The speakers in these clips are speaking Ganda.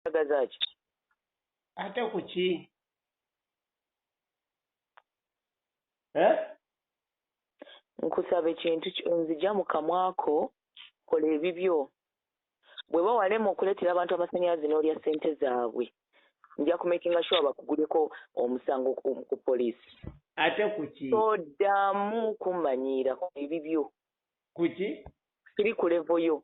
Kyagaza ki? Ate ku ki? Eh? Nkusaba ekintu nzija mu kamwako kola ebibyo. Bweba walema okuleetera abantu amasanyalaze n'olya ssente zaabwe nja kumakinga sure bakuguleko omusango ku poliisi. Ate ku ki? Toddamu kummanyiira kola ebibyo. Ku ki? Siri ku levo yo.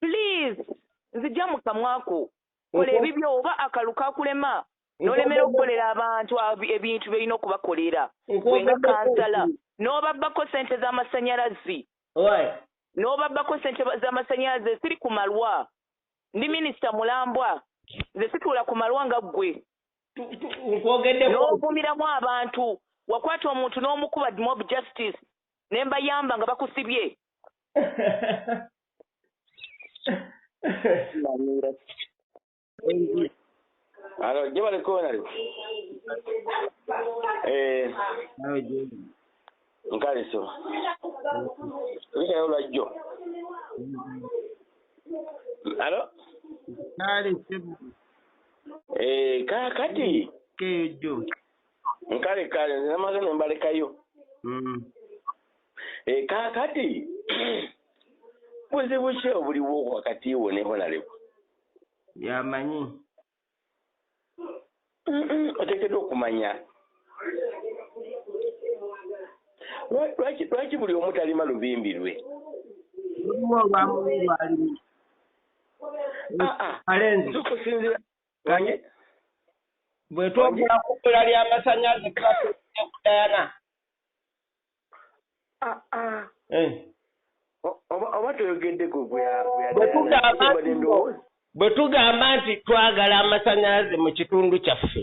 please nzija mu kamwa ko kola ebibyo oba akalu kakulema nolemera okukolera abantu ebintu byolina okubakolera wenga kansala n'obabbako sente z'amasanyalazi n'obabbako sente z'amasanyalazi esiri ku malwa ndi minisita mulambwa nze situula ku malwa nga ggwe n'ovumiramu abantu wakwata omuntu n'omukuba dmob justice ne mbayamba nga bakusibye Alo, gye bali koonali. Eh. Nawe gye. Nkaliso. Likayo lwajjo. Alo? Kale sebo. Eh, kakati. Keyo jo. nkale kale nze namaze ne mbalekayo mm. e, eh, kakati buzibu ki obuliwo wakati wo ne honalebo yamanyi otekedwa okumanya lwaki buli omu talima lubimbi lwe Manye. Bwe twogera ku bbula ly'amasannyalaze tuba tuwulidde ku Diana. Ah, ah. Eh. Oba toyogedde ku gwe bwe tugamba nti twagala amasannyalaze mu kitundu kyaffe.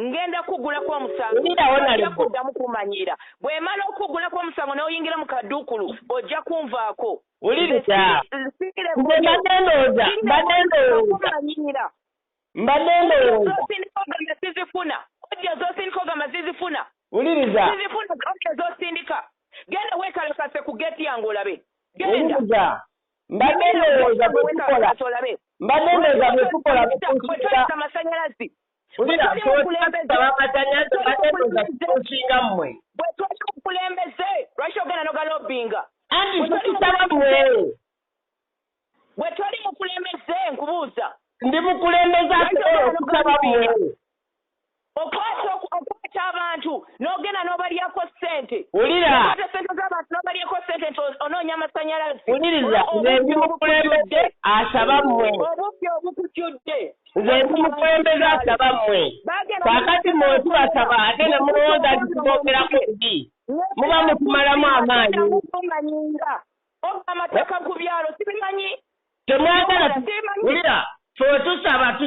ngenda kukugulako omusango ojja kuddamu kumanyiira bwemala okukugulako omusango n'oyingira mu kaduukulu ojja kunvaako wuliriza mbadde ndowooza mbadde ndowooza mbadde ndowooza sizifuna ojja zosindika ogamba zizifuna wuliriza zizifuna ojja zosindika genda weekalakase ku geeti yange olabe wuliriza mbadde ndowooza bwetukola mbadde ndowooza bwetukola amasannyalazi Wulira kyotabamatanyaz batebuza kusinga mmwe. Bwe tuli ku kulembeze lwaki ogenda nogalobinga. Anti tukisaba mmwe. Bwe toli mukulembeze nkubuuza. Ndi mukulembeze asobola okusaba mmwe. Okwata okwata abantu n'ogenda n'obalyako ssente. Wulira. Okwata ssente z'abantu n'obalyako ssente nti onoonya amasannyalaze. Wuliriza nze ndi mukulembeze asaba mmwe. Obubbi obukujjudde. nze ndi mukulembeze asaba mmwe kakati mmwe wetubasaba ate ne mulowooza nti tuboogerako ebi muba mutumalamu amaanyi obba amateeka ku byalo sibimanyi temwagala wulira twetusaba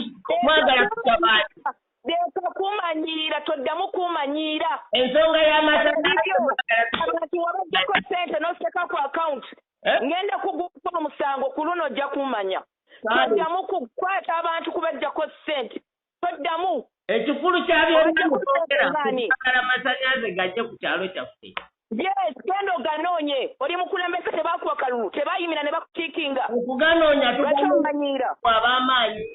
mwagala tusabaati leka kumanyiira toddamu kumanyiira ensonga y'amasaaabantu wabajjako sente noseka ku akawunti eh? ngenda kugukola omusango ku luno ojja kumanya toddamu kukwata abantu kubajjako ssente toddamu ekikulu kyabyogera masanyaze gajje ku kyalo kyaffe yes genda oganoonye oli mukulembeze tebakuwa kalulu tebayimira ne bakukiikinga okuganoonya tumanyiira wabamaanyi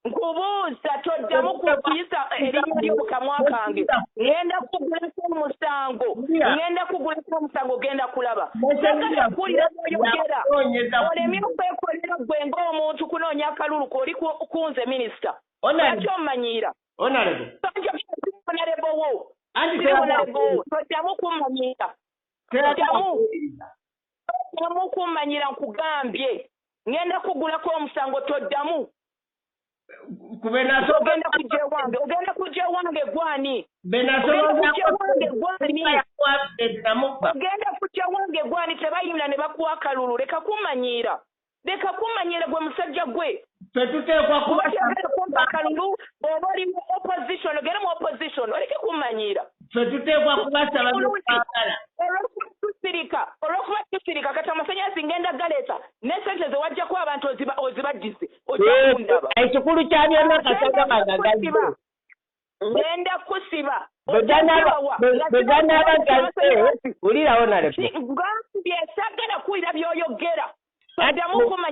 nkubuuza toddamu kuyisa erinnya lyo mu kamwa kange ŋŋenda kugulako omusango ŋŋenda kugulako omusango ogenda kulaba kuwulira byoyogera olemye okwekolera gwe ng'omuntu kunoonya akalulu koli kunze minisita lwaki omanyiira onalebo wo onalebo wo toddamu kummanyiira toddamu toddamu kummanyira nkugambye ngenda kugulako omusango toddamu ogenda kujja ewange ogenda kujja ewange gwani ogenda kujja ewange gwani tebayimira ne bakuwa akalulu leka kummanyiira Leka kummanyira gwe musajja gwe. Ffe tuteekwa kuba. Oyagala kumpa kalulu oba oli mu opposition ogere mu opposition oleke kummanyira. Ffe tuteekwa kubasaba byetwagala. Olwokubatusirika olwokuba tusirika kati amasanyazi ngenda galeeta ne sente ze wajjako abantu ozibaddize ojja kundaba. Ekikulu kya byonna kasagamaga gazze. ngenda kusiba bweganaba gaze wulirawo nalebgambye sagala kuwulira byoyogera adamu kumanya